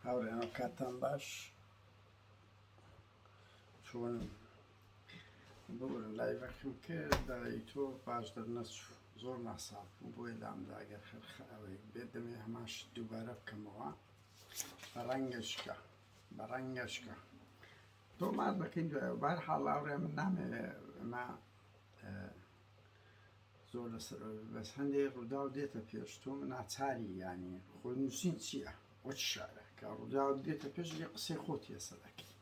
هاوڕێیان کاتتان باش چۆن ببورن لایڤەکەم کرد دای تۆ باش دەرنەچوو زۆر ناساف بوو بۆیە لامدا ئەگەر خەرخە ئەوەی بێت دەمێ هەماش دووبارە بکەمەوە بەڕەنگەشکە بەڕەنگەشکە تۆمار دەکەین دوای بار حاڵاوڕێ من نامێ ئەمە زۆر لەسەر بەس هەندێک ڕووداو دێتە پێش تۆ ناچاری ینی خۆی نووسین چییە وەچ شارە کە ڕووداو دێتە پێش لە قسەی خۆت هێسە دەکەی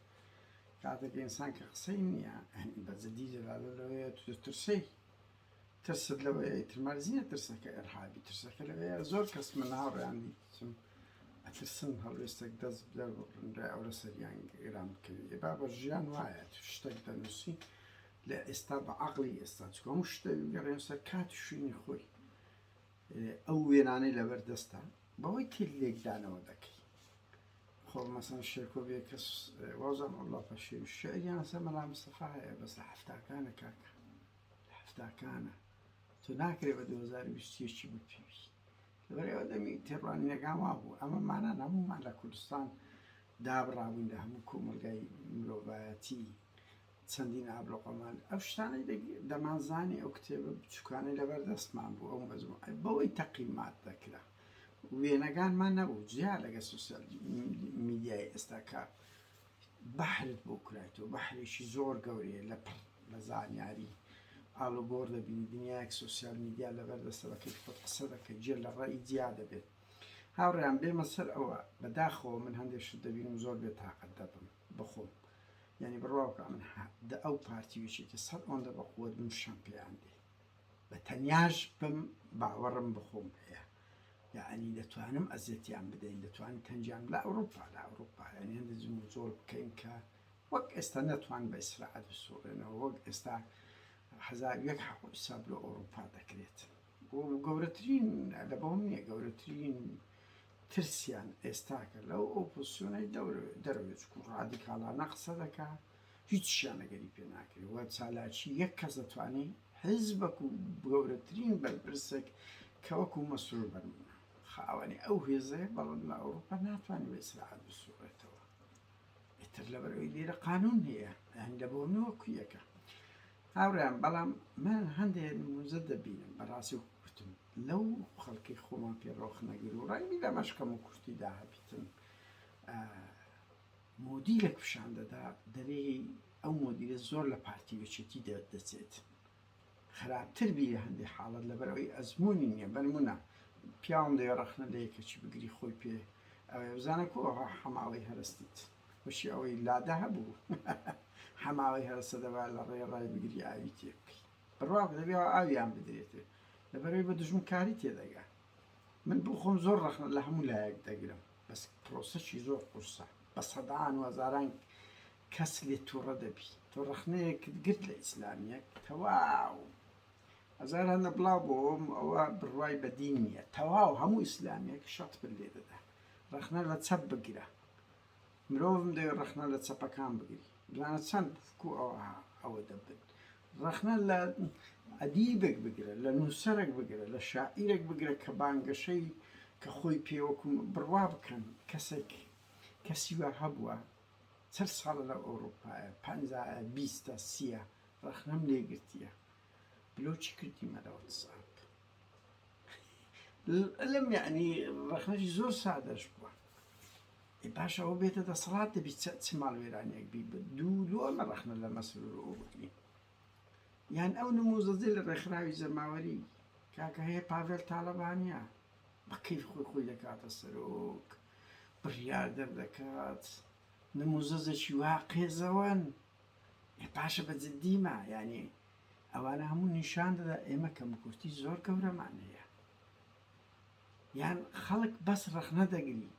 کاتێک ئینسان کە قسەی نییە بەجددی لەلاە لەوەیە ترسەی ترست لەوەیە ترمەرزیە ترسەکە ئەرهابی ترسەکە لەوەیە زۆر کەس من ناڕیان دیتم ئەترسم هەڵوێستێک دەست بدە ڕای ئەوە سەریان گران بکەوێ با بە ژیان وایە شتێک دەنووسی لە ئێستا بە عەقڵی ئێستا چونکە هەموو شت دەبێ بگەڕێنە سەر کات و شوێنی خۆی ئەو وێنانەی لەبەر دەستە بەوەی تر لێکدانەوە دەکەی خۆ مەسەن شێرکۆ بێ کەس وازان وڵا پەشێ شعریان سە مەلا مستەفا هەیە بەس لە هەفتاکانە کاکە لە هەفتاکانە تۆ ناکرێ بە 2020 بوو پێوی لەبەرەوە دەمی تێڕوانینەکان وا بوو ئەمە مانە هەموومان لە کوردستان دابڕابووین لە هەموو کۆمەلگای مرۆڤایەتی چەندین ئابلۆقەمان ئەو شتانەی دەمانزانی ئەو کتێبە بچووکانەی لەبەر دەستمان بوو ئەو مەزموعەی بەوەی تەقیمات دەکرا وێنەگانمان نەبوو جیا لەگە سوسیال میدیای ئێستا کە بەحرت بۆ کرایتەوە بەحرێکی زۆر گەورەیە لە پڕ لە زانیاری ئالوگۆڕ دەبینی دنیایەک سوسیال میدیا لەبەر دەستە بەکەی خۆت قسە دەکە جێ لە ڕێی جیا دەبێت هاوڕیان بێمە سەر ئەوە بەداخەوە من هەندێک شت دەبینم زۆر بێ تااقەت دەبم بخۆم یانی بڕواوکە من دە ئەو پارتی وچێتی سەد ئەوەندە بە قوت بم شەم پێیان دێ بە تەنیاش بم باوەڕم بخۆم پێە یعنی دەتوانم ئەزێتیان بدەین دەتوان تەنجیان لە ئەوروپا لە ئەوروپا یعنی هەندە جم و جۆڵ بکەین کە وەک ئێستا نەتوان بە ئیسراعەت بسوڕێنەوە وەک ئێستا هزار یەک حەقساب لە ئەوروپا دەکرێت و گەورەترین لە بەوم نییە گەورەترین ترسیان ئێستاکە لەو ئۆپۆسیۆنەی دەرەوێت چکو ڕادیکاڵانە قسە دەکا هیچیان لەگەری پێ ناکرێت وە چالاکی یەک کەس دەتوانێت حزبەک و گەورەترین بەرپرسێک کەوەکو مەسرور بەرمە خاوەنی ئەو هێزەیە بەڵم لە ئەوروپا ناتوانانی بە ئیسراعات بسوڕێتەوە ئیتر لەبەرەوەی لێرە قانون هەیە هەندە بۆ نوەکویەکە هاوڕێیان بەڵام من هەندێ نموزە دەبینم بەڕاستی وەکو کوتم لەو خەڵکی خۆمان پێ ڕۆخ نەگر و ڕای بیدا مەشکەم و کورتی دا هەبیتن مۆدیلێک پیشان دەدا دەرێی ئەو مۆدیلە زۆر لە پارتی وچێتی دەچێت خراپتر بیرە هەندێک حاڵت لەبەرەوەی ئەزمموی نیە بەرمونە پیاوم دەێ ڕەخنە لە یەکەکی بگری خۆی پێ ئەوێ بزانە کۆ حەماڵی هەرستیت خوشی ئەوەی لادە هەبوو حەماوەی هەرەسە دەبا لە ڕێ ڕای بگری ئاوی تێ بکەی بڕواکە دەبێ ئاویان بدرێتێ لەبەرەوەی بە دژمن کاری تێدەگا من بۆ خۆم زۆر ڕەخنە لە هەموو لایەک دەگرم بەس پرۆسەشی زۆر قورسە بە سەدان و هەزاران کەس لێ تووڕە دەبی تۆ ڕەخنەیەکت گرت لە ئیسلامیەک تەواو هەزار هەندە بڵاو بۆم ئەوە بڕوای بەدین نییە تەواو هەموو ئیسلامیەک شەت پر لێ دەدا ڕەخنە لە چەپ بگرە مرۆڤم دەوێ ڕەخنە لە چەپەکان بگری جوانە چەند کو ئەوها ئەوە دەبن ڕەخنە لە ئەدیبێک بگرە لە نووسەرێک بگرە لە شاعیرێک بگرە کە بانگەشەی کە خۆی پێوەکوم بڕوا بکەن کەسێک کەسی وا هەبووە چەند ساڵە لە ئەوروپایە پەنجایە بیستە سیە ڕەخنەم لێگرتیە لۆ چی کردیمە لە واتسئاپ لەم یعنی ڕەخنەی زۆر سادەش بووە باش ئەوە بێتە دەسەڵات دەبی چ ماڵوێرانێک بی دوو لۆ ئەمە ڕەخنە لە مەسرور ئەوبکری یان ئەو نموزەزی لە ڕێکخراوی جەماوەری کاکە هەیە پاڤێل تاالبانیا بەکەی خۆی خۆی دەکاتە سەرۆک بڕیاردەر دەکات نموزەزێکی وا قێزەوەن باشە بە جدی ما یانی ئەوانە هەموو نیشان دەدا ئێمە کەم کورتی زۆر گەورەمان هەیە یان خەڵک بەس ڕەخنە دەگری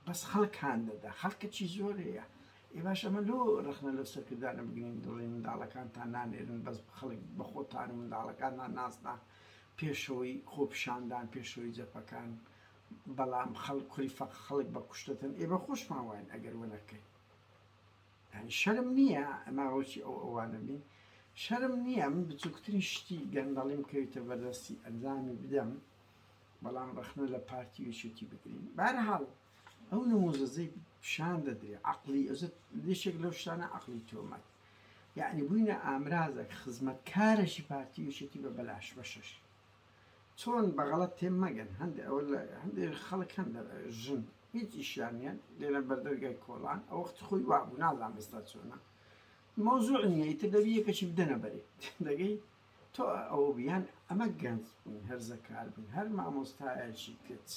بەس خەڵک هاان دەدا خەڵکە چی زۆر هەیە ئێ باش ئەمە لۆ ڕخنە لە سەرکردانە بگرین دڵی منداڵەکان تا نانێرن بەس خەڵک بە خۆتان و منداڵەکانمان ناسنا پێشەوەی خۆپشاندان پێشەوەی جەپەکان بەڵام خەڵک کوری فەق خەڵک بە کوشتتن ئێ بە خۆشمان واین ئەگەر وەنەکەین یانی شەرم نیە ئەمە ڕۆکی ئەو ئەوانە بین شەرم نیە من بچوکترین شتی گەندەڵیم کەویتە بەردەستی ئەنجامی بدەم بەڵام ڕەخنە لە پارتی ویشوتی بگرین بارهاڵ ئەو نموزەزەی پیشان دەدرێ عقلی ئەزت لێشێک لەو شتانە عقلی تۆمەت یعنی بووینە ئامرازێک خزمەتکارێکی پارتی وشێتی بە بەلاش بەشەش چۆن بەغەڵەت تێ مەگەن هەندێ ئەوە لە هەندێ خەڵک هەن لە ژن هیچ ئیشیان نیە لێرە بەردەرگای کۆڵان ئەو وەخت خۆی وابوو نازام ئێستا چۆنە مەوزوع نیە ئیتر دەبی یەکەشی بدەنە بەرێ دەگەی تۆ ئەو بیان ئەمە گەنج بوون هەر زەکار بن هەر مامۆستایەکی کچ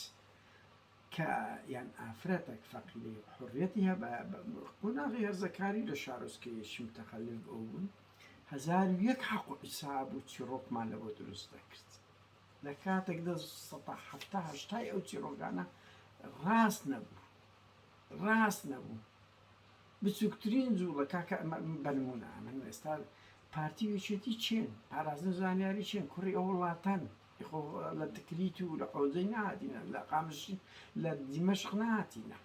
کە یان ئافرەتەک فەقیری حڕەتی هەبە قۆناغی هەرزەکاری لە شارۆچکەیەکی متەخەلف بوون هەزار و یەک حەق و حیساب و چیڕۆکمان لەبۆ دروست دەکرد لە کاتێکدا سەتا حەفتا هەشتای ئەو چیڕۆکانە ڕاست نەبوو ڕاست نەبوو بچووکترین جوڵە کاکە ئەمە بەنمونە ئەمن ئێستا پارتی وێچێتی چێن پارازن زانیاری چێن کوڕی ئەو وڵاتەن لە تکریت و لە حۆزەی ناتینە لە قامشی لە دیمەشق ناتینە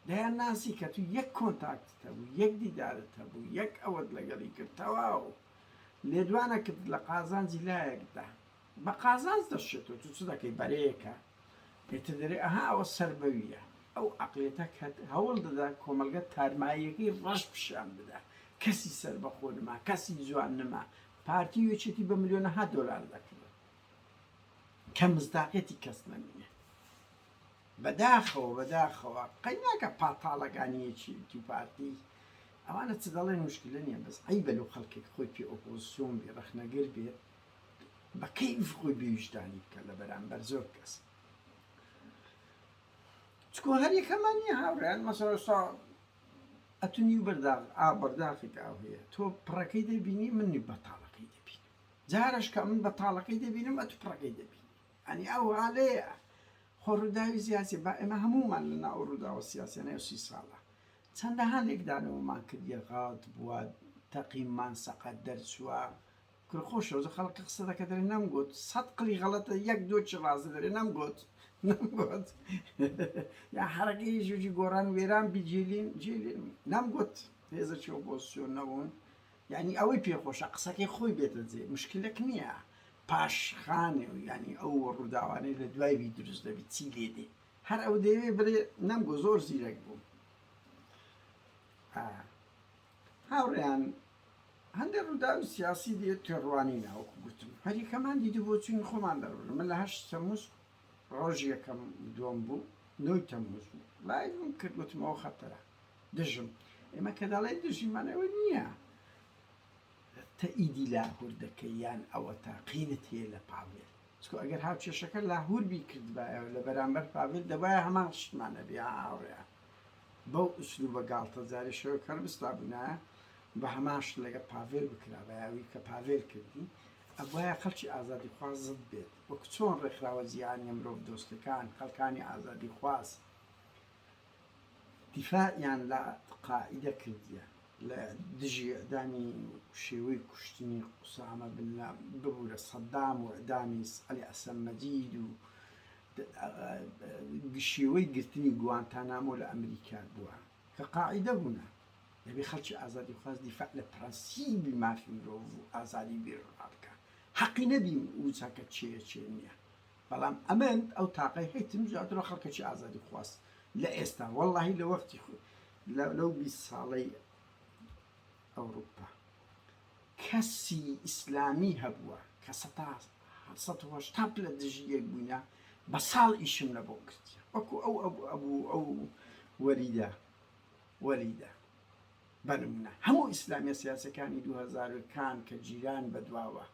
دەیان ناسی کە تو یەک کۆنتاکتت هەبوو یەک دیدارت هەبوو یەک ئەوەت لەگەڵی کرد تەواو لێدوانە کردت لە قازانجی لایەک دا بە قازانج دەشێتەوە تو چ دەکەی بەرەیەکە ئیتر دەرێ ئەها ئەوە سەر بەویە ئەو عەقلیەتە کە هەوڵ دەدا کۆمەڵگە تارماییەکەی ڕەش پیشان بدا کەسی سەربەخۆ نما کەسی جوان نما پارتی وێچێتی بە ملیۆنەها دۆلار دەکڕێت کە مصداقیەتی کەس نەمینێ. بەداخەوە بەداخەوە قەیناکە پاتاڵەگانیەکی وتی پارتی ئەوانە چ دەڵێن مشکلە نیە بەس عەیبە لۆ خەڵکێک خۆی پێ ئۆپۆزسیۆن بێ ڕەخنەگر بێ بە کەیف خۆی بێ ویژدانی بکە لە بەرامبەر زۆر کەس چکۆ هەر یەکەمان نیە هاوڕێیان مەسەڵ ئێستا ئەتونی و بەرداغ ئا بەرداخێک ئاو هەیە تۆ پڕەکەی دەبینی منی بەتاڵەکەی دەبین جارش کە من بەتاڵەکەی دەبینم ئەتو پڕەکەی دەبین یانی ئەو هەالەیە خۆ ڕووداوی زیاسیە با ئێمە هەموومان لە ناو ئەو ڕووداوە سیاسیانەی ئەو سی ساڵە چەندەها لێکدانەوەمان کردیە غاڵت بووە تەقیمان سەقەت دەرچووە کورە خۆ شەوزە خەڵکە قسە دەکە دەرێ نەمگوت سەد قلی غەڵەتە یەک دۆ چ ڕازە دەرێ نەمگوت نەمگوت یا حەرەکەی ژوجی گۆڕان وێران بی جیلین جیلین نەمگوت هێزە چۆ پۆزسیۆن نەبوون یانی ئەوەی پێ خۆشە قسەکەی خۆی بێتە جێ مشکلەک نیە پاش خانێ و یانی ئەو ڕوداوانەی لە دوای وی دروست دەبی چی لێ دێ هەر ئەو دەیەوێ بلێ نەمگۆ زۆر زیرەک بوو هاوڕێیان هەندێک ڕوداوی سیاسی دێ تێڕوانی ناوەکو گوتم هەریکەمان دیدی بۆ چوین خۆمان دەڕون من لە هەشت تەموز ڕۆژ یەکەم دووەم بوو نۆی تەموز بوو لایڤم کرد گوتمەوە خەتەرە دژم ئێمە کە دەڵێ دژیمان ئەوە نییە تە ئیدی لاهور دەکەی یان ئەوە تا قینت هەیە لە پاڤێل چکۆ ئەگەر هاوکێشەکە لاهور بی کردبایە لە بەرامبەر پاڤێل دەبایە هەمان شتمانە بێ هاوڕێ بەو ئوسلو بە گاڵتە جاری شەوە کەر بستا بوونە بە هەماش لەگە پاڤێل بکرابایەوی کە پاڤێل کردی ئەبواە خەڵکی ئازادی خواز زد بێت وەک چۆن ڕێکخراوە جیهانیە مرۆڤ دۆستەکان خەڵکانی ئازادی خواست دیفاعیان لە قاعیدە کردیە لە دژی اعدامی و شێوەی کوشتنی قوسامە بن لا ببورە سەدام و اعدامی علی حسن مجید و شێوەی گرتنی گوانتانامۆ لە ئەمریکا بوە کە قاعیدە بونە دەبێ خەلکی ئازادی خواز دیفاع لە پرەنسیبی مافی مرۆڤ و ئازادی بیرۆڕا بکا حەقی نەبی و چاکە چێە چێ نیە بەڵام ئەمن ئەو تاقەی هەیتم زیاترە خەڵکەکی ئازادی خواست لە ئێستا وەڵی لە وەختی خۆ لەو بی ساڵەی ئەوروپا کەسی ئیسلامی هەبووە کە سەهشتا لە دژی یەک بووینە بە ساڵ ئیشم لە بۆ کردی وەکو ئەو ئەبوو ئەو وەریدا وەریدا بە نمونە هەموو ئیسلامیە سیاسیەکانی دوو هەزار کان کە جیران بە دواوە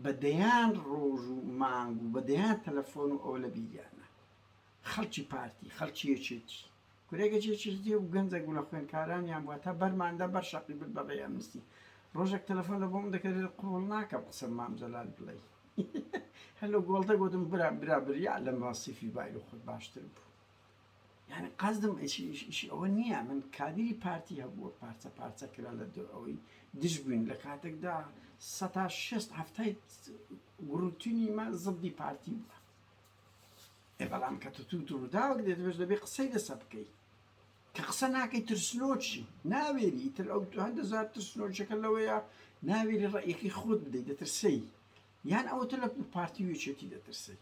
بە دەیان ڕۆژ و مانگ و بە دەیان تەلەفۆن و ئەوە لە بیریانە خەڵکی پارتی خەڵکی یەکێتی کورە گەج یەکێتی و گەنجە گوڵە خوێنکارانیان بووە تا بەرماندا بەر شەقی بر بە ڕێ ئەمنستی ڕۆژێک تەلەفۆن لە بۆم دەکرێت لە قوڵ ناکە قسە مام جەلال بڵێ هەلو گۆڵتە گوتم برا برا بریا لەم ڕاستیفی بای لە خۆت باشتر بوو یانی قەزدم ئیشی ئەوە نیە من کادیری پارتی هەبووە پارچە پارچە کرا لە دو ئەوەی دژ بووین لە کاتێکدا سەتا شێست هەفتای گروتنی مە زبدی پارتی بووە ئێ بەڵام کە تو تو دروداوەک دێت بێش دەبێ قسەی لەسە بکەیت کە قسە ناکەی ترسنۆچی ناوێری تر ئەو هەر دەزار ترسنۆچەکە لەوەیە ناوێری ڕێکی خۆت بدەیت دەترسەی یان ئەوتە لە پارتی وێچێتی دەترسەی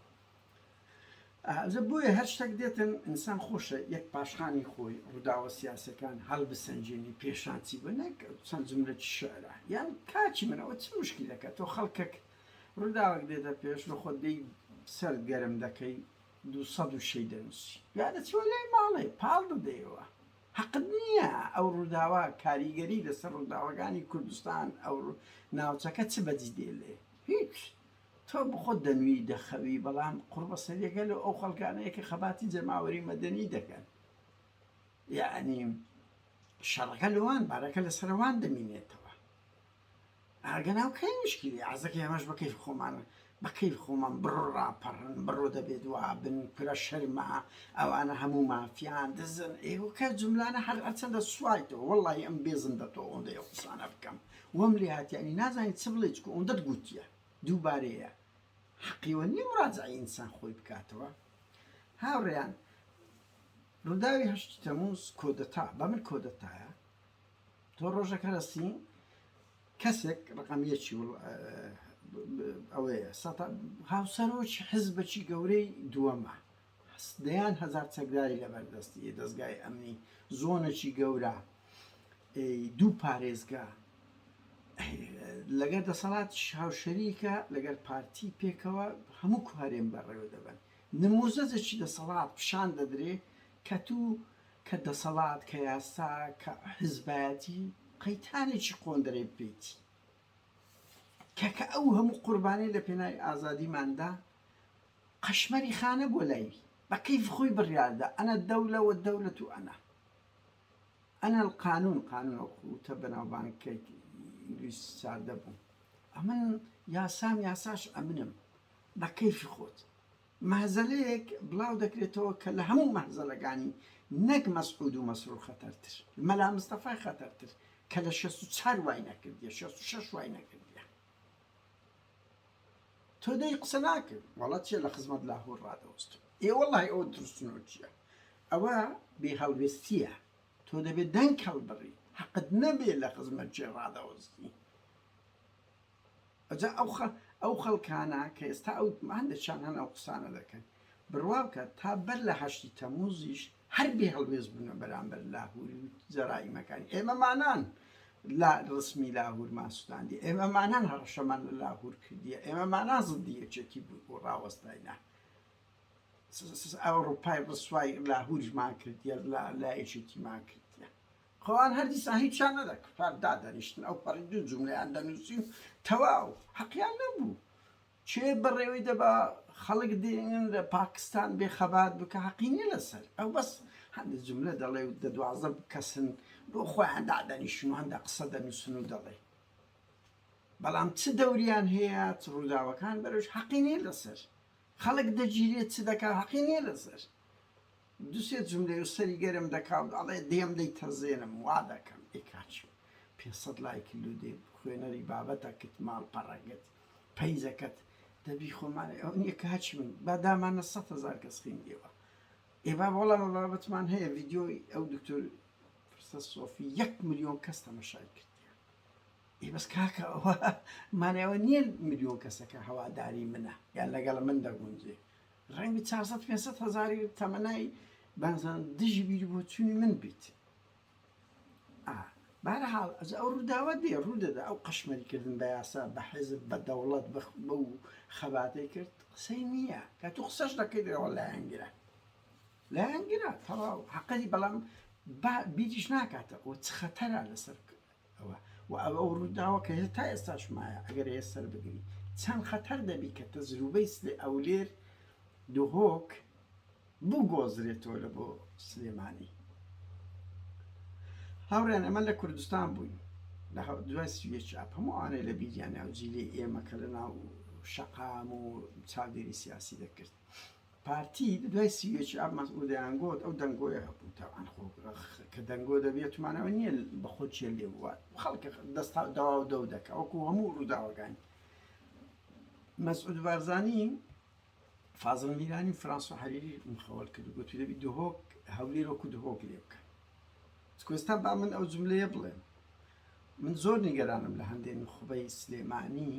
جا بۆیە هەر شتەک دێتن ئینسان خۆشە یەک پاشخانی خۆی ڕووداوە سیاسەکان هەڵبسەنجێنی پێشان چی بوو نەک چەند جملەکی شعرە یان کاکی من ئەوە چ مشکلەکە تۆ خەڵکەک ڕووداوەک دێتە پێش لە خۆت دێی سەر گەرم دەکەی دوو سەد و شەی دەنووسی یا دەچوە لای ماڵێ پاڵ دەدەیەوە حەقت نییە ئەو ڕووداوە کاریگەری لەسەر ڕووداوەکانی کوردستان ئەو ناوچەکە چ بەجی دێلێ هیچ تۆ بخۆت دەنوی دەخەوی بەڵام قوڕبەسەریە گەلۆ ئەو خەڵکانەیە کە خەباتی جەماوەری مەدەنی دەکەن یەعنی شەڕەکە لەوان بارەکە لەسەروان دەمینێتەوە ئاگەناو کەی مشکلی عزەکە ئەمەش بەکەی خۆمان بەکەی خۆمان بڕۆ ڕاپەڕن بڕۆ دەبێت وابن کورە شەرمە ئەوانە هەموو مافیان دزن ئێوەکە جملانە هەر ئەچەندە سوایتەوە وڵی ئەم بێزم دەتۆ ئەوەندە ئەو قسانە بکەم وەم لێ هااتیانی نازانین چ بڵێ چکو ئەوەندەت گوتیە دووبارەیە حەقیەوە نیە مراجعەی ئینسان خۆی بکاتەوە هاوڕێیان ڕوداوی هەشتی تەموز کۆدەتا بە من کۆدەتایە تۆ ڕۆژەکە رەسی کەسێک ڕقم یەکی ئەوەیە هاوسەرۆکی حزبەکی گەورەی دووەمە دەیان هەزار چەکداری لەبەردەستی یە، دەزگای ئەمنی، زۆنەکی گەورە، دوو پارێزگا، لەگەر دەسەڵاتیش هاوشەریکە، لەگەر پارتی پێکەوە هەموو هەرێم بەڕێوە دەبەن. نموزەجێکی دەسەڵات پیشان دەدرێ کە توو کە دەسەڵات کە یاسا کە حزبایەتی قەیتانێکی قۆندرەی بکەیتی کە کە ئەو هەموو قوربانیە لە پێناوی ئازادیماندا قەشمەری خانە بۆ لای بە کەیف خۆی بڕیاردا انا الدولە والدولە انا انا القانون قانون ئەو وتە بەناوبانگەی ئینگلیز ساردە بوو ئەمن یاسام یاساش ئەمنم بە کەیفی خۆت مەهزەلەیەک بڵاو دەکرێتەوە کە لە هەموو مەهزەلەکانی نەک مەسعود و مەسرور خەتەرتر مەلا مستەفای خەتەرتر کە لە شەست و چوار وای نەکردیە شەست و شەش وای نەکردیە تۆ دەی قسە ناکەی وەڵا چیە لە خزمەت لاهور ڕادەوەستم ئێ وەڵای ئەوە ترسنۆکیە ئەوە بێ هەڵوێستیە تۆ دەبێت دەنگ هەڵبڕی حەقت نەبێ لە خزمەت چێ ڕادەوەستی ئەجا ئەو خە ئەو خەڵکانە کە ئێستا ئەو هەندێکیان هەن ئەو قسانە دەکەن بڕوا بکە تا بەر لە هەشتی تەموزیش هەر بێ هەڵوێست بوونە بەرامبەر لاهوری و جەرائیمەکانی، ئێمەمانان لە ڕسمی لاهورمان سوتاندیە، ئێمەمانان هەڕەشەمان لە لاهور کردیە، ئێمەمانان زدی یەکێتی بووین و ڕاوەستاینە، ئەوڕوپای ڕسوای لاهوریشمان کردیە لە یەکێتیمان کرد. خۆ ئەوان هەر دیسان هیچیان نەدا کفار دادەنیشتن ئەو پەڕی دوو جوملەیان دەنووسی و تەواو حەقیان نەبوو کێ بەڕێوەی دەبا خەڵک دێنن لە پاکستان بێ خەبات بکە حەقی نیە لەسەر ئەو بەس هەندە جملە دەڵێ و دە دوازە کەسن بۆ خۆیان دادەنیشن و هەندە قسە دەنووسن و دەڵێ بەڵام چ دەوریان هەیە چ ڕووداوەکان بەرەوش حەقی نیە لەسەر خەڵک دەگیرێت چ دەکا حەقی نیە لەسەر دوسێ جملەی و سەری گەرم دەکا و ئەڵێ دێم دەی تەزێنم وا دەکەم ئێکاچ پێ سەد لایکل و دێ خوێنەری بابەتەکت ماڵ پەڕەگەت پەیجەکەت دەبی خۆمان ئەوە نیە کە هەرچی من با دامانە سەد هەزار کەس خوێندیەوە ئێ بابە وەڵا من بابەتمان هەیە ڤیدیۆی ئەو دکتۆر پرسە سۆفی یەک ملیۆن کەس تەمەشای کردیە ئێ بەس کاکە ئەوە مانای ئەوە نییە ملیۆن کەسەکە هەواداری منە یان لەگەڵ من دەگونجێ ڕەنگبی چارسەد پێنجسەد هەزاری تەمەنای بانزان دژی بیری بۆچوونی من بیت ئا بەهەرحاڵ ئەجە ئەو ڕووداوە دێ ڕوودەدا ئەو قەشمەری کردن بە یاسا بە حیزب بە دەوڵەت بە بەو خەباتەی کرد قسەی نییە کە تو قسەش دەکەی دەڵێ لایەنگرە لایەنگرە تەواو حەقەی بەڵام با بیریش ناکاتە ئەوە چ خەتەرە لەسەر وە ئەوە ئەو ڕووداوە کە هێستا ئێستاش مایە ئەگەر هەیە سەر بگری چەند خەتەر دەبی کە تەجروبەی سلێ ئەولێر دهۆک بگۆزرێتەوە لە بۆ سلێمانی هاوڕێن ئەمە لە کوردستان بووین لە دوای سویە چاپ هەموو ئەوانەی لە بیریانیا و جیلی ئێمە کە لە ناو شەقام و چاودێری سیاسی دەکرد پارتی دوای سی و یەکی ئاب مەسعود دەیانگۆت ئەو دەنگۆیە هەبوو تاوان خۆ کە دەنگۆ دەبێت مانەوە نییە بە خۆ چێ لێ بوات خەڵکە دەستا داوا و دەو دەکە وەکو هەموو ڕووداوەکانی مەسعود بارزانی فازڵ میرانی فرانسۆ حەریری مخەوەل کرد گوتی دەبی دهۆک هەولێر وەکو دهۆک لێ بکە کوێستان با من ئەو جملەیە بڵێم من زۆر نیگەرانم لە هەندێ نوخبەی سلێمانی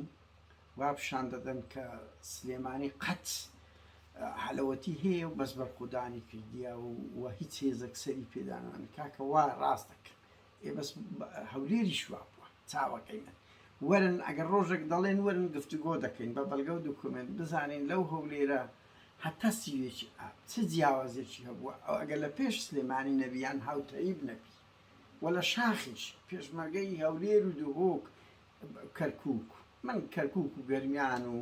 وا پیشان دەدەن کە سلێمانی قەت حەلەوەتی هەیە و بەس بەرخودانی کردیا و و هیچ هێزەک سەری پێدانان کاکە وا ڕاست دەکە ئێ بەس هەولێری شوا بووە چاوەکەی من وەرن ئەگەر ڕۆژێک دەڵێن وەرن گفتوگۆ دەکەین بە بەڵگە و دوکمنت بزانین لەو هەولێرە هەتا سیوێکی ئاب چ جیاوازێکی هەبووە ئەو ئەگەر لە پێش سلێمانی نەبیان هاوتەریب نەبی و لە شاخیش پێشمەرگەی هەولێر و دهۆک کەرکوک من کەرکوک و گەرمیان و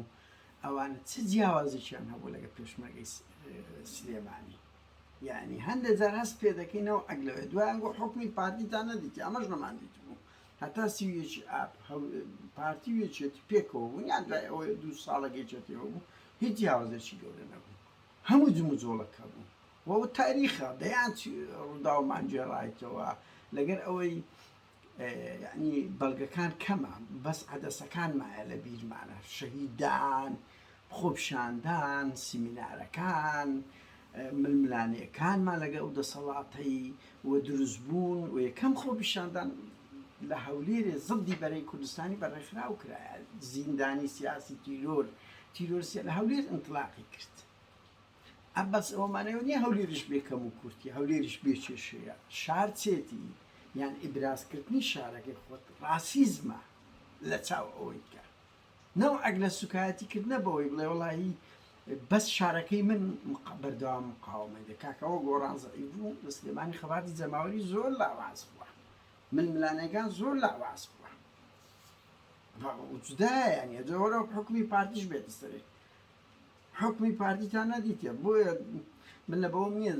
ئەوانە چ جیاوازیکیان هەبوو لەگە پێشمەرگەی سلێمانی یعنی هەندێک جار هەست پێ دەکەینەوە ئەگلەوێ دوایانگۆ حکومی پارتیتان نەدیتی ئەمەش نەمان دیتبوو هەتا سیویەکی ئاپ پارتی وێچێتی پێکەوە بوون یان دوای ئەوە دوو ساڵە گەیچێتەوە بوو هیچ جیاوازێکی گەورە نەبوو هەموو جموجۆڵەکە بوو و تاریخە دەیان ڕووداومان گێڕایتەوە لەگەر ئەوەی یعنی بەڵگەکان کەمە بەس عەدەسەکان مایە لە بیرمانە شەهیدان خۆپشاندان سیمینارەکان ململانێکانمان لەگەڵ دەسەڵاتەی و دروست بوون و یەکەم خۆپیشاندان لە هەولێرێ زڵدی بەرەی کوردستانی بە ڕێکخراو کرایە زیندانی سیاسی تیرۆر تیرۆرسیە لە هەولێر ئەنتلاقی کرد ئەم بەس ئەوە مانەوە نیە هەولێریش بێ کەم و کورتی هەولێریش بێ کێشەیە شار چێتی یان ئیبرازکردنی شارەکەی خۆت ڕاسیزمە لە چاو ئەوەی کە نەو ئەگ لە سوکایەتی کردنە بەوەی بڵێ وڵی بەس شارەکەی من بەردەوام مقاومەی دە کاکەەوە گۆڕان زعی بوو لە سلێمانی خەباتی جەماوەری زۆر لاواز بووە من ملانەکان زۆر لاواز بووە جدایە نیە جۆرە حکومی پارتیش بێت سەرێت حوکمی پارتیتان نەدیتە بۆیە من لە بەوەم نیە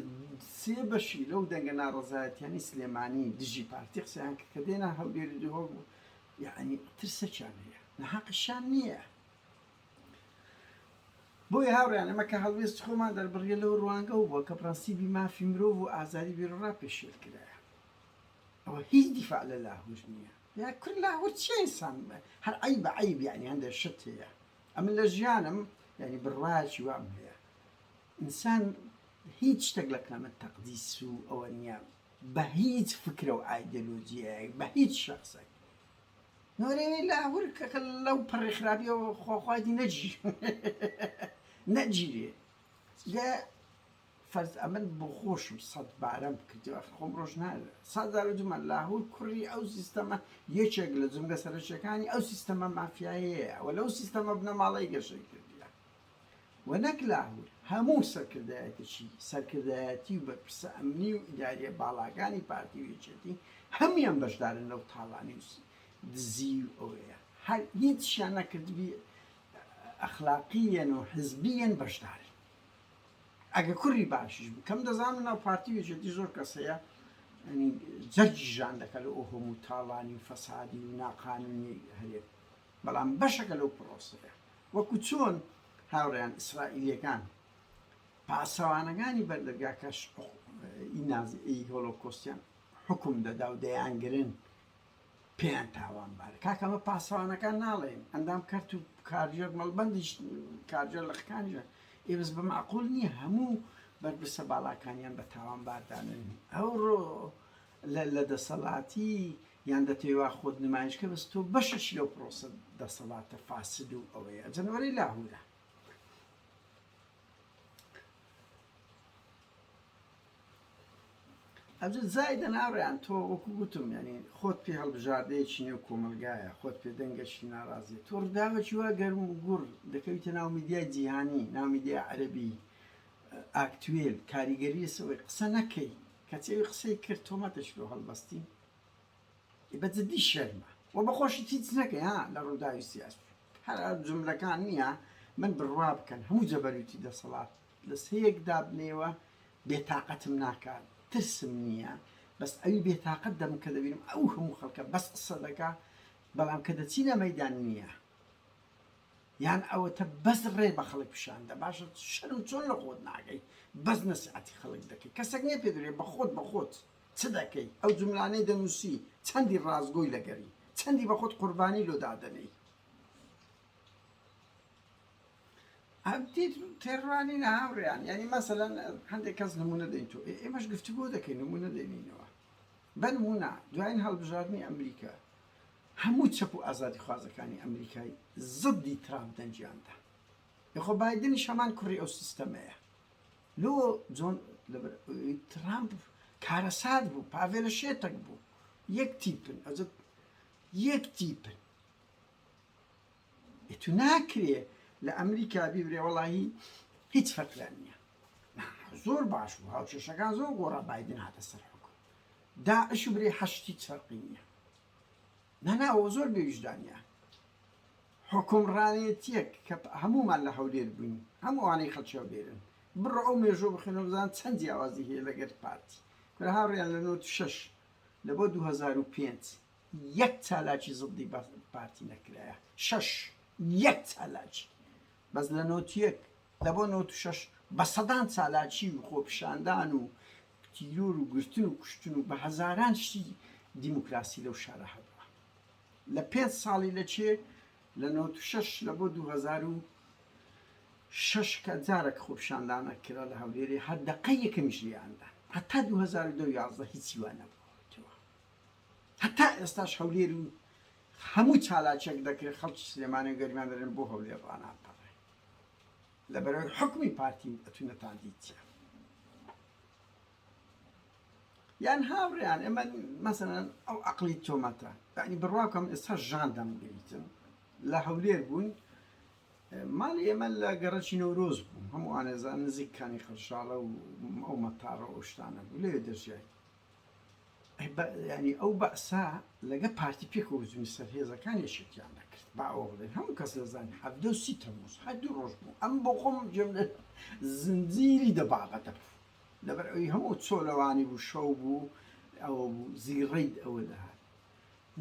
سێ بەشی لەو دەنگە ناڕەزایەتیانی سلێمانی دژی پارتی قسەیان کە دێنا هەولێری دووە بوو یعنی ترسەکیان هەیە نەحەقیشان نییە بۆی هاوڕیان ئەمە کە هەڵوێست خۆمان دەربڕیە لەو ڕوانگە و بووە کە پرەنسیبی مافی مرۆڤ و ئازادی بیرڕا پێشێل کرایە ئەوە هیچ دیفاع لە لاهور نییە یا کل لاهور چیسان هەر عیب عیب یعنی هەندێک شت هەیە ئەمن لە ژیانم یانی بڕوایەکی وام هەیە ئینسان هیچ شتێک لە قیامەت تەقدیس و ئەوە نییە بە هیچ فکرە و ئایدەلۆجیایەک بە هیچ شخصێک نۆرێنی لاهور کەکە لەو پڕی خراپیەوە خۆخوادی نەجی نەجیێ فەرز ئەمن بۆ خۆشم سەد بارەم کردی ئەخر خۆم ڕۆژ نا سەد جار وتم لاهور کوڕی ئەو سیستەمە یەکێک لە جومگە سەرەکیەکانی ئەو سیستەمە مافیایەیە و لەو سیستەمە بنەماڵەی گەشەی کردیە و نەک لاهور هەموو سەرکردایەتیی سەرکردایەتی و بەرپرسە ئەمنی و ئیداریە باڵاکانی پارتی و یەکێتی هەموان بەشدارن لەو تاڵانی و دزی و ئەوەیە هەر هیچیان نەکردبی ئەخلاقیەن و حزبیەن بەشدارن ئەگە کوری باشیش بوو کەم دەزانم ناو پارتی وێژێتی زۆر کەس هەیە ینی جەرگی ژان دەکە لە ئۆهۆم و تاڵانی و فەسادی و ناقانونی هەیە بەڵام بەشەکە لەو پرۆسەیە وەکو چۆن هاوڕیان ئیسرائیلەکان پاسەوانەکانی بەردەرگاکەش ئینازی هۆلۆکۆستیان حکم دەدا و دەیانگرن پێیان تاوانبارە کاکە ئەمە پاسەوانەکان ناڵێن ئەندام کەرت و کارگێر مەڵبەندیش کارگێر لە خکانیان ئێ بەس بە معقول نییە هەموو بەرپرسە باڵاکانیان بە تاوانباردانن ئەوڕۆ لە دەسەڵاتی یان دەتێوا خۆت نمایشکە بەس تۆ بەشش لەو پرۆسە دەسەڵاتە فاسد و ئەوەیە جەنوەری لاهورە ئەمجا زایدە ناوریان تۆ وەکو گوتم یانی خۆت پێ هەڵبژاردەیەکی نێو کۆمەلگایە خۆت پێ دەنگەشی ناڕازی تۆ ڕوداوەکی وا گەرم و گوڕ دەکەویتە ناو میدیای جیهانی ناو میدیا عەرەبی ئاکتوێل کاریگەریە سەوەی قسە نەکەی کەچی قسەی کرد تۆمەتەش لۆ هەڵبەستی بە جدی شێت مە وە بە خۆشی تیچ نەکەی ها لە ڕووداوی سیاسی هەر ئەو جملەکان نییە من بڕوا بکەن هەموو جەبەروتی دەسەڵات لە سەیەک دابنێوە بێتاقەتم ناکات ترسم نییە بەس ئەوی بێتاقەت دەم کە دەبینم ئەو هەموو خەڵکە بەس قسە دەکا بەڵام کە دەچینە مەدان نییە یان ئەوەتە بەس ڕێ بە خەڵک پیشاندە باشە شەرم چۆن لە خۆت ناگەی بەس نەسعەتی خەڵک دەکەی کەسەک نیە پێ دەێ بە خۆت بە خۆت چ دەکەی؟ ئەو جوملانەی دەنووسی چەندی ڕاستگۆی لەگەری؟ چەندی بە خۆت قوربانی لۆ دادەنێی؟ تێڕوانینە هاوڕێیان یعنی مەسەلەن هەندێک کەس نمونە دەین تۆ ئێمەش گفتوگۆ دەکەین نمونە دێنینەوە بە نمونە دوایین هەڵبژاردنی ئەمریکا هەموو چەپ و ئازادی خوازەکانی ئەمریکای زدی ترامپ دەنجیاندا یخۆ بادنی شەمان کوڕی ئەو سیستەمەیە لۆ جۆن لەبەر ئەوەی تڕامپ کارەسات بوو پاڤێلە شێتەک بوو یەک تیپن ئەزە یەک تیپن ئێتو ناکرێ لە ئەمریکا بیبرێ وەڵاهی هیچ فەرقیان نییە زۆر باش بوو هاوکێشەکان زۆر گۆڕا بایدن هاتە سەر حکم داعش و برێ حەشتی چەرقی نییە ناناوە زۆر بێویژدانە حوکمڕانێتیەک کە هەموومان لە هەولێر بووین هەم ئەوانەی خەڵکی هەولێرن بڕۆ ئەو مێژووە بخوێنەوە بزان چەند جیاوازی هەیە لەگەر پارتی کورە هاوڕێیان لە نۆ شەش لە بۆ دوو هەزار و پێنج یەک چالاکی زدی بە پارتی نەکرایە شەش یەک چالاکی بەس لە نۆ یەک لە بۆ نۆ شەش بە سەدان چالاکی و خۆپیشاندان و تیرۆر و گرتن و کوشتن و بە هەزاران شتی دیموکراسی لەو شارە هەبوو لە پێنج ساڵی لە چێ لە نەوەد و شەش لە بۆ دوو هەزار و شەش کە جارەک خۆپیشاندانە کرا لە هەولێرێ هەر دەقە یەکەمیش لێیاندا هەتا دوو هەزار و دە و یازدە هیچی وا نەبووەتەوە هەتا ئێستاش هەولێر و هەموو چالاکێک دەکرێت خەڵکی سلێمانی و گەرمیان دەرێن بۆ هەولێر ڕاناپەڕێ لە بەرەوەی حکومی پارتین ئەتوونەتان دیتە یان هاوڕێیان ئێمە مەسەن ئەو عقلی تۆمەتە یعنی بڕواکەم ئێستا ژان دەمگەیتن لە هەولێر بوون ماڵی ئێمە لە گەڕەکی نەورۆز بوو هەموو ئانێزان نزیککانی خەرشاڵە و ئەو مەتارە ئەوشتانە بوو لێ دەژیای ینی ئەو بەسا لەگە پارتی پێکەوەزمی سەر هێزەکان یەشێکیان نەکرد باوە بڵێن هەموو کەس دەزانانی حەفدە سی تەموز هەدوو ڕۆژ بوو ئەم بۆ خۆم جێم زنجیری دەباغەتە لەبەر ئەوی هەموو چۆلەوانی بوو شەو بوو ئەوە بوو زیڕەی ئەوە دەهات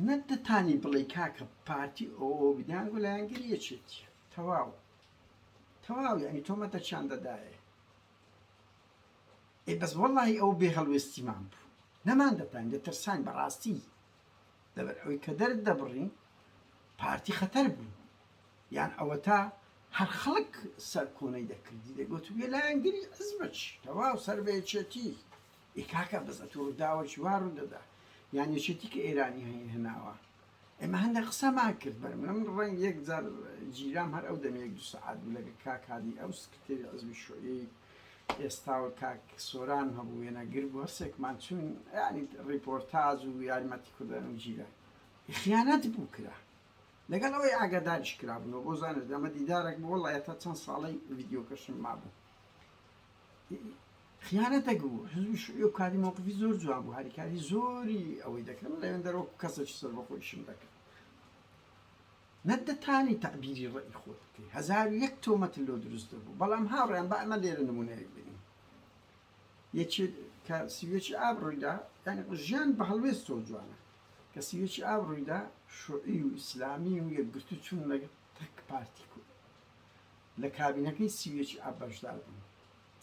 نەت دەتانی بڵێ کاکە پارتی ئەوە بدیان و لایەنگری یەکێتی تەواو تەواو یعنی تۆمەتەکیان دەدایێ ئێ بەس وەڵی ئەو بێ هەڵوێستیمان بوو نەمان دەتان دەترسان بەڕاستی لەبەر ئەوی کە دەرت دەبڕین پارتی خەتەر بوو یان ئەوەتا هەر خەڵک سەرکۆنەی دەکردی دەگوت بێ لایەنگری حزبچ تەواو سەر بە یەکێتی ئێ کاکە بەس ئەتوو ڕووداوەکی وا ڕوو دەدا یان یەکێتی کە ئێرانی هەیە هێناوە ئێمە هەندێک قسەمان کرد بەر من من ڕەنگ یەک جار جیرام هەر ئەو دەمێک دو سەعات بوو لەگە کاک هادی ئەو سکرتێری حزبی شوعیەی ئێستا و کاک سۆران هەبوو وێنەگر بوو هەرسێکمان چوین یانی ڕیپۆرتاج و یارمەتی کوردان و جیرە خیانەت بوو کرا لەگەڵ ئەوەی ئاگاداریش کرابنەوە بۆ زانست ئەمە دیدارێک بۆ وەڵا تا چەند ساڵی ڤیددیوکەشم مابوو خیانەتێک بوو حزبی شوعی و کاری مووقفی زۆر جوان بوو هاریکاری زۆری ئەوەی دەکەم لەوێن دەرۆک کەسێکی سەر بە خۆیشم دەکرد نەدەتانی تعبیری ڕێی خۆت بکەی هزار یەک تۆمەت لۆ دروست بوو بەڵام هاوڕیان بە ئەمە لێرە نمونەیەک بینی یەکێک کە سیوێکی ئاب ڕوویدا یانی ژیان بە هەڵوێستەوە جوانە کە سیوێکی ئاب ڕوویدا شوعی و ئیسلامی و یەکگرتو چون لەگەڵ تەک پارتی کو لە کابینەکەی سیوێکی ئاب بەشدار بوون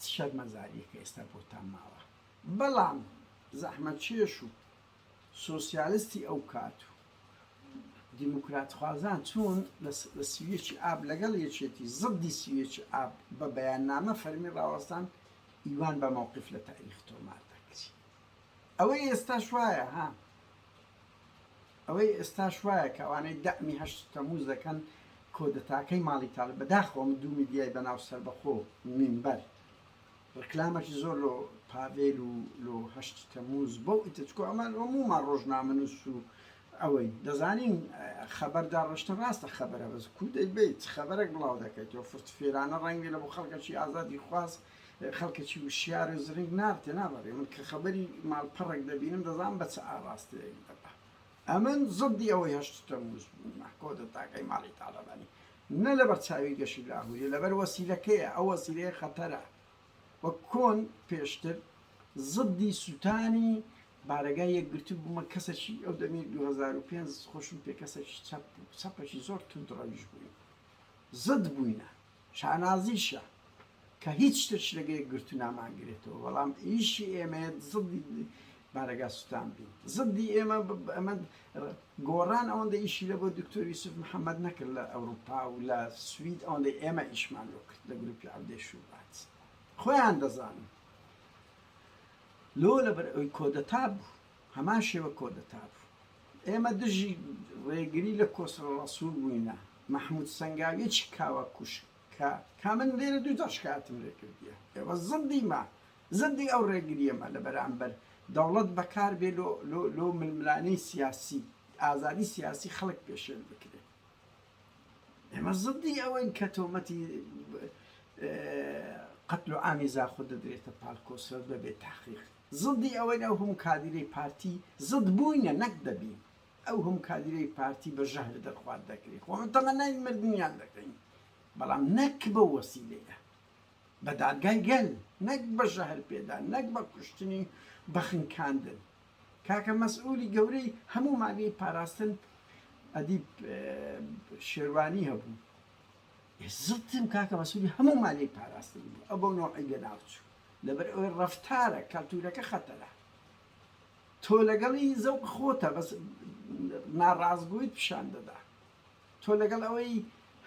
چ شەرمەزارییەکە ئێستا بۆتان ماوە بەڵام زەحمەتکێش و سۆسیالستی ئەو کات و دیموکراتخوازان چوون لە سویچی ئاب لەگەڵ یەکێتی زدی سویچی ئاب بە بەیاننامە فەرمی ڕاوەستان ئیوان بە مەوقیف لە تاریخ تۆمار دەکری ئەوەی ئێستاش وایە ها ئەوەی ئێستاش وایە کە ئەوانەی دەعمی هەشت تەموز دەکەن کۆدەتاکەی ماڵی تاڵ بەداخەوەم دوو میدیای بەناو سەربەخۆ مینبەر ڕکلامەکی زۆر لۆ پاڤێل و لۆ هەشت تەموز بۆ ئیتر چکۆ ئەمان ئۆموومان ڕۆژنامەنووس و ئەوەین دەزانین خەبەر داڕشتن ڕاستە خەبەرە بەس کوو دەیبەیت چ خەبەرەک بڵاو دەکەیت تۆ فرتفێرانە ڕەنگ بێ لە بۆ خەڵکەکی ئازادی خواز خەڵکەکی وشیار و زرنگ نار تێنا بەڕێ من کە خەبەری ماڵپەڕێک دەبینم دەزان بە چ ئاڕاستەیەک دەبا ئەمن زدی ئەوەی هەشت تەموز بوومە کۆدەتاکەی ماڵی تاڵەبانی نە لەبەر چاوی گەشی لاهوری لەبەر وەسیلەکەیە ئەو وەسیلەیە خەتەرە وە کۆن پێشتر زدی سووتانی بارەگای یەکگرتو بوومە کەسەکی ئەو دەمی 2005 خۆشم پێ کەسەکی چەپ بوو چەپەکی زۆر تند ڕەویش بووین زد بووینە شانازیشە کە هیچ شتێکش لەگە یەکگرتوو نامانگرێتەوە، بەڵام ئیشی ئێمەیە زڵی بارەگا سوتان بین. زڵی ئێمە ئەمە گۆڕان ئەوەندە ئیشی لە بۆ دکتۆر یوسف محەمەد نەکرد لە ئەوروپا و لە سوید ئەوەندەی ئێمە ئیشمان لۆ کرد لە گروپی عەودەی شوبات. خۆیان دەزانن. لۆ لەبەر ئەوی کۆدەتا بوو هەمان شێوە کۆدەتا بوو ئێمە دژی ڕێگری لە کۆسرە ڕسوور بووینە مححمود سنگاویەکی کاوە کوشک کە کە من لێرە دوو جار شکایەتم لێ کردیە ئێوە زدی مە زدی ئەو ڕێگریە مە لە بەرامبەر دەوڵەت بەکار بێ لۆ لۆ لۆ ململانێ سیاسی ئازادی سیاسی خەڵک پێشێل بکرێ ئێمە زدی ئەوەین کە تۆمەتی قتل و ئامی زاخۆ دەدرێتە پاڵ کۆسرەت بەبێ تاخیق زدی ئەوەی ئەو هەموو کادیرەی پارتی زد بووینە نەک دەبین ئەو هەموو کادیرەی پارتی بە ژەهر دەرخوارد دەکرێت خۆ ئەمە تەمەنای مردنیان دەکەین بەڵام نەک بەو وەسیلەیە بە دادگای گەل نەک بە ژەهر پێدان نەک بە کوشتنی بە خنکاندن کاکە مەسئولی گەورەی هەموو ماگەی پاراستن ئەدیب شێروانی هەبوو زڵتم کاکە مەسولی هەموو مالی پاراستن بوو ئە بۆ نۆعی لە ناوچوو لەبەر ئەوەی ڕفتارە کەلتورەکە خەتەرە تۆ لەگەڵی زەوق خۆتە بەس ناڕاستگۆیت پیشان دەدا تۆ لەگەڵ ئەوەی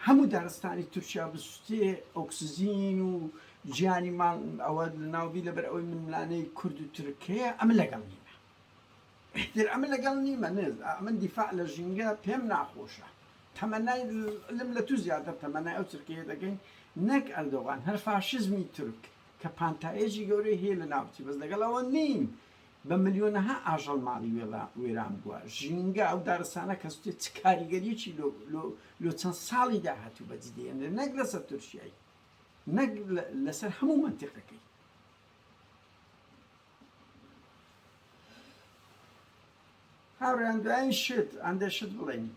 هەموو دارستانی تورکیا بسوتێ ئۆکسزین و گیانی ماڵ ئەوە لەناوبی لەبەر ئەوەی منلانەی کورد و ترکەیە ئەمە لەگەڵ نیمە احتر ئەمە لەگەڵ نیمە نێز ئەمن دیفاع لە ژینگە پێم ناخۆشە تەمەنای لم لە تو زیاتر تەمەنای ئەو ترکەیە دەگەین نەک ئەردۆغان هەر فاشزمی تورک کە پانتایەکی گەورەی هەیە لە ناوچی بەس لەگەڵ ئەوە نیم بە ملیۆنەها ئاژەڵ ماڵی وێران بوە ژینگە ئەو دارستانە کەسوتێ چ کاریگەریەکی لۆ چەند ساڵی داهاتوو بەدی دێنێ نەک لەسەر تورکیایی نەک لەسەر هەموو منتیقەکەی هاوڕیان دوایین شت ئەندێ شت بڵێین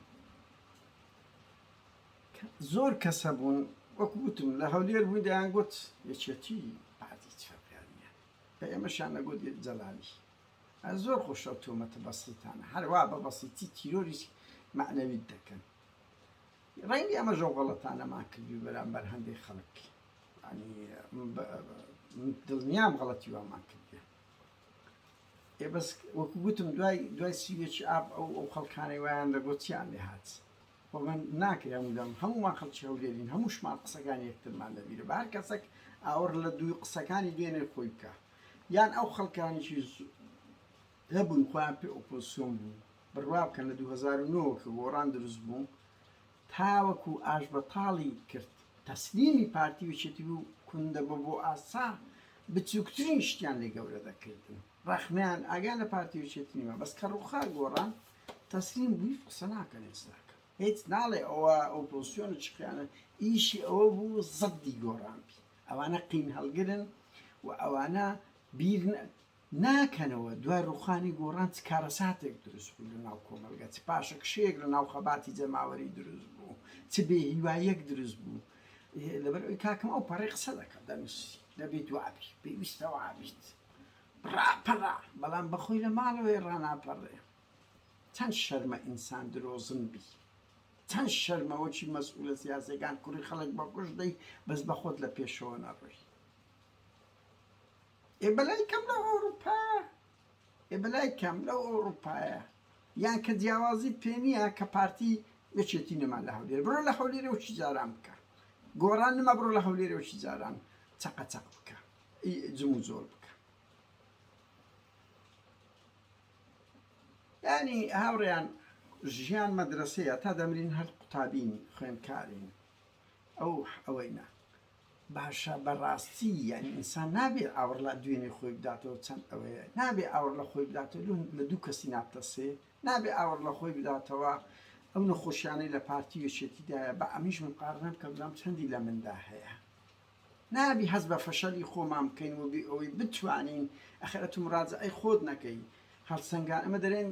زۆر کەسە بوون وەکو وتم لە هەولێر بووین دەیان گوت یەکێتی بە ئێمەشیان ئەگوت یەک جەلالی. ئە زۆر خۆشە ئەو تۆمەتە بەسیتانە هەر وا بە بەسیتی تیرۆری مەعنەویت دەکەن. ڕەنگە ئەمەش ئەو غەڵەتانەمان کردبی بەرامبەر هەندێک خەڵک. یانی دڵنیام غەڵەتی وامان کردیان. ئێ بەس وەکو گوتم دوای دوای سویەکی ئاب ئەو ئەو خەڵکانەی وایان دەگوت چیان لێ هات؟ خۆ من ناکرێ هەموو دەم هەموومان خەڵکی هەولێرین هەمووشمان قسەکانی یەکترمان لەبیرە بە هەر کەسەک ئاوڕ لە دووی قسەکانی دوێنێ خۆی بکە یان ئەو خەڵکانیی هەبوون خۆیان پێ ئۆپۆسیۆن بوو بڕوا بکەن لە 2009 کە گۆڕان دروست بوو تاوەکو ئاش بەتاڵی کرد تەسلیمی پارتی وچێتی بوو کوندە بە بۆ ئاسا بچووکترین شتیان لێ گەورە دەکردن ڕەخنەیان ئاگا لە پارتی و یەکێتی نیە بەس کە ڕوخا گۆڕان تەسلیم بووی قسە ناکەن هیچ ناکەن هیچ ناڵێ ئەوە ئۆپۆزسیۆنە چ خیانە ئیشی ئەوە بوو زەدی گۆڕان بی ئەوانە قین هەڵگرن و ئەوانە بیر ناکەنەوە دوای ڕوخانی گۆڕان چ کارەساتێک دروست بوو لە ناو کۆمەلگە چ پاشەکشەیەک لە ناو خەباتی جەماوەری دروست بوو چ بێ هیوایەک دروست بوو لەبەر ئەوی کاکەم ئەو پەڕی قسە دەکات دەنووسی دەبێت وابی پێویستە وابیت ڕاپەڕە بەڵام بەخۆی لە ماڵەوەی ڕاناپەڕێ چەند شەرمە ئینسان درۆزن بی چەند شەرمە وەکی مەسئولە سیاسەکان کوڕی خەڵک بەکوش دەی بەس بەخۆت لە پێشەوە نەڕۆی ئێ بەلای کەم لە ئەوروپا ئێ بەلای کەم لەو ئەوروپایە یان کە جیاوازی پێ نییە کە پارتی یەکێتی نەما لە هەولێر بڕۆ لە هەولێرە وچی جاران بکە گۆڕان نما بڕۆ لە هەولێرە وچی جاران چەقە چەق بکە ی جموجۆڵ بکە ینی هاوڕێیان ژیان مەدرسەیە تا دەمرین هەر قوتابین خوێندکارین ئەو ئەوەینە باشە بەڕاستی یعنی ئینسان نابێ ئاوڕ لە دوێنێ خۆی بداتەوە چەند ئەوەیە نابێ ئاوڕ لە خۆی بداتەوە لە دوو کەسی نابتەسێ نابێ ئاوڕ لە خۆی بداتەوە ئەو نەخۆشیانەی لە پارتی وێشێتیدایە بە ئەمیش مقارنە بکە بزانام چەندی لە مندا هەیە نابی هەست بە فەشەلی خۆمان بکەین و بێ ئەوەی بتوانین، ئەخەر ئەتو مراجەعەی خۆت نەکەی، هەڵسەنگان، ئەمە دەرێن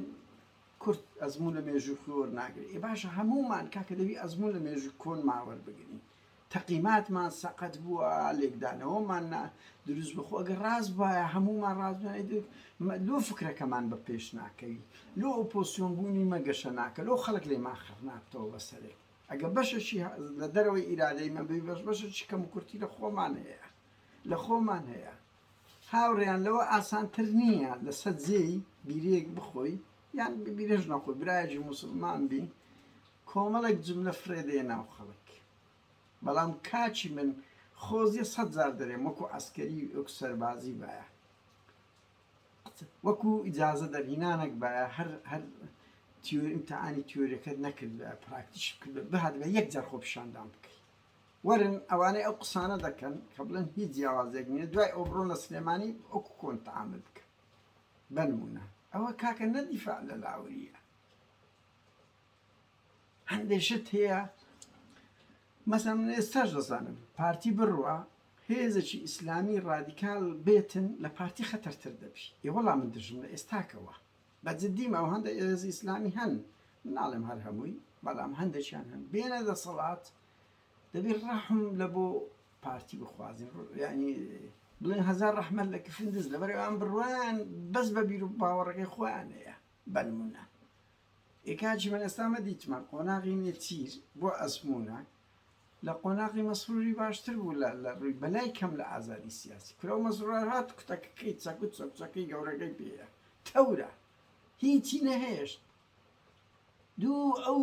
کورد ئەزموون لە مێژووی خۆی وەرناگرێ، ئێ باشە هەموومان کاکە دەبی ئەزموون لە مێژووی کۆنمان وەربگرین، تەقیماتمان سەقەت بووە، لێکدانەوەمان نا دروست بووە، خۆ ئەگەر ڕاست بوایە هەموومان ڕاست بووین ئەیدر مە لۆ فکرەکەمان بە پێش ناکەوی، لۆ ئۆپۆسیۆن بوونی مە گەشە ناکە، لۆ خەڵک لێمان خەڕ نابتەوە بەسەرێ. ئەگە بەشەکی لە دەرەوەی ئیرادەی من بی بەش بەشەکی کەم و کورتی لە خۆمان هەیە لە خۆمان هەیە هاوڕێیان لەوە ئاسانتر نییە لە سەد جێی بیرەیەک بخۆی یان بیرەش نەخۆی برایەکی موسڵمان بی کۆمەڵێک جملە فرێدەیە ناو خەڵک بەڵام کاچی من خۆزیە سەد جار دەرێم وەکو عسکەری وەکو سەربازی بایە وەکو ئیجازە دەرهینانەک بایە هەر هەر تیۆری ئیمتیحانی تیۆریەکەت نەکردبایە پراکتیش بکردبایە بهاتبایە یەک جار خۆپیشاندان بکەی وەرن ئەوانەی ئەو قسانە دەکەن کە بڵێن هیچ جیاوازێک نییە دوای ئەو بڕۆنە سلێمانی وەکو کۆن تەعامل بکە بەنمونە ئەوە کاکە نە دیفاع لە لاورییە هەندێک شت هەیە مەسەن ئێستاش دەزانن پارتی بڕە هێزێکی ئیسلامی ڕادیکال بێتن لە پارتی خەتەرتر دەبی ئێوەڵام من دژم لە ئێستاکەوە بە جددیم ئەو هەندە ئێز ئیسلامی هەن مناڵێم هەر هەمووی بەڵام هەندێکیان هەن بێنە دەسەڵات دەبی ڕەحم لە بۆ پارتی بخوازین ینی بڵێن هزار ڕحمە لە کفندز لەبەرەوان بڕوان بەس بە بیر و باوەڕەکەی خۆیانەیە بەنمونە ئێ کاکی من ئێستا مە دیتمە قۆناغی نێچیر بۆ ئەزموونە لە قۆناغی مەسروری باشتر بوو لە لە ڕووی بەلای کەم لە ئازادی سیاسی کورە و مەسرور هات کوتەکەکەی چەکوت چەکچەکەی گەورەکەی پێە تەورە هیچی نەهێشت دوو ئەو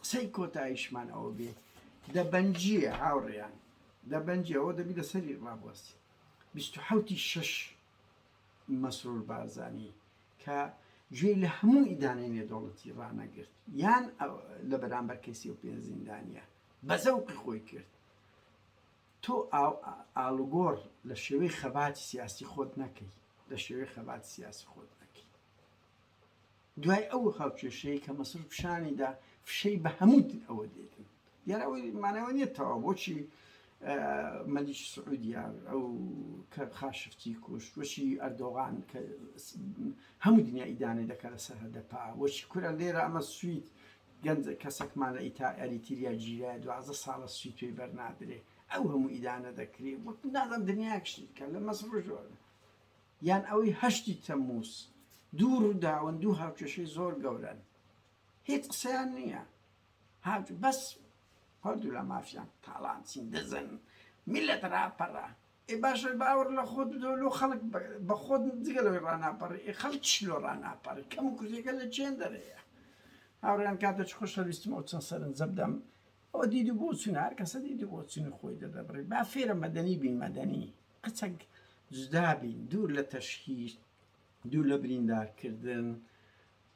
قسەی کۆتایشمان ئەوە بێ دەبەنجیە هاوڕێیان دەبەنجەوە دەبی لەسەری ڕابوەستی بیست و حەوتی شەش مەسرور بارزانی کە گوێی لە هەموو ئیدانەی نێودەوڵەتی ڕانەگرت یان لە بەرامبەر کەی سی و پێنج زیندانیە بە زەوقی خۆی کرد تۆ ئالوگۆڕ لە شێوەی خەباتی سیاسی خۆت نەکەی لە شێوەی خەباتی سیاسی خۆت نەکەی دوای ئەو هاوکێشەی کە مەسرور پیشانی دا فشەی بە هەموو تر ئەوە دێتن دیارە ئەوەی مانای ئەوە نیە تەواو بۆچی مەلیکی سعودیا ئەو کە خاشفتی کوشت وەچی ئەردۆغان کە هەموو دنیا ئیدانە دەکە لە سەرهەدە پا وەچی کورە لێرە ئەمە سوید گەنج کەسەکمان لە ئیتا ئەریتیریا گیرا دوازدە ساڵە سوی توێی بەرنادرێ ئەو هەموو ئیدانە دەکرێ وەک نازم دنیاکشتی کە لە مەسرور یان ئەوەی هەشتی تەمموز، دوو ڕووداون دوو هاوکێشەی زۆر گەورەن هیچ قسەیان نییە هات بەس هەردوو لا مافیان تاڵان چین دزن میلەت ڕاپەڕە ئێ باشە باوەڕ لە خۆت بدەوە لۆ خەڵک بە خۆت جگە لەوەی ڕاناپەڕی ئێ خەڵک چی لۆ ڕاناپەڕی کەم و کورتیەکە لە چێندەرەیە هاوڕێیان کاتێکی خۆشەویستم ئەو چەند سەرنجە بدەم ئەوە دیدی بۆچوونە هەر کەسە دیدی بۆچوونی خۆی دەدەبڕی با فێرە مەدەنی بین مەدەنی قچەک جودا بی دوور لە تەشهیر دوور لە بریندار کردن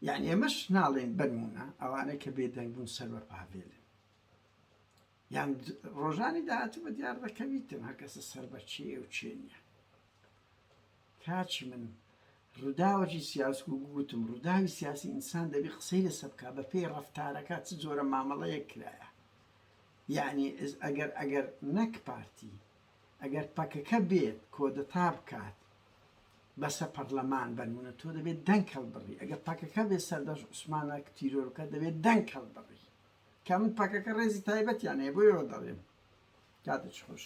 یانی ئێمەش ناڵێن بەنمونە ئەوانەی کە بێدەنگ بوون سەر بە پاڤێلن یان ڕۆژانی داهاتوو بە دیار دەکەویتن هەر کەسە سەر بە چێ و چێ نیە کاچی من ڕووداوەکی سیاس و گوتم ڕووداوی سیاسی ئینسان دەبی قسەی لە سەبکە بە پێی ڕفتارەکە چ جۆرە مامەڵەیە کرایە یعنی ئەگەر ئەگەر نەک پارتی ئەگەر پەکەکە بێت کۆدەتا بکات بەسە پەرلەمان بەنمونە تۆ دەبێت دەنگ هەڵبڕی ئەگەر پەکەکە بێت سەردەش عوسمانە تیرۆرکە دەبێت دەنگ هەڵبڕی کە من پەکەکە ڕێزی تایبەتیان هەیە بۆیەوە دەڵێم کاتێک خۆش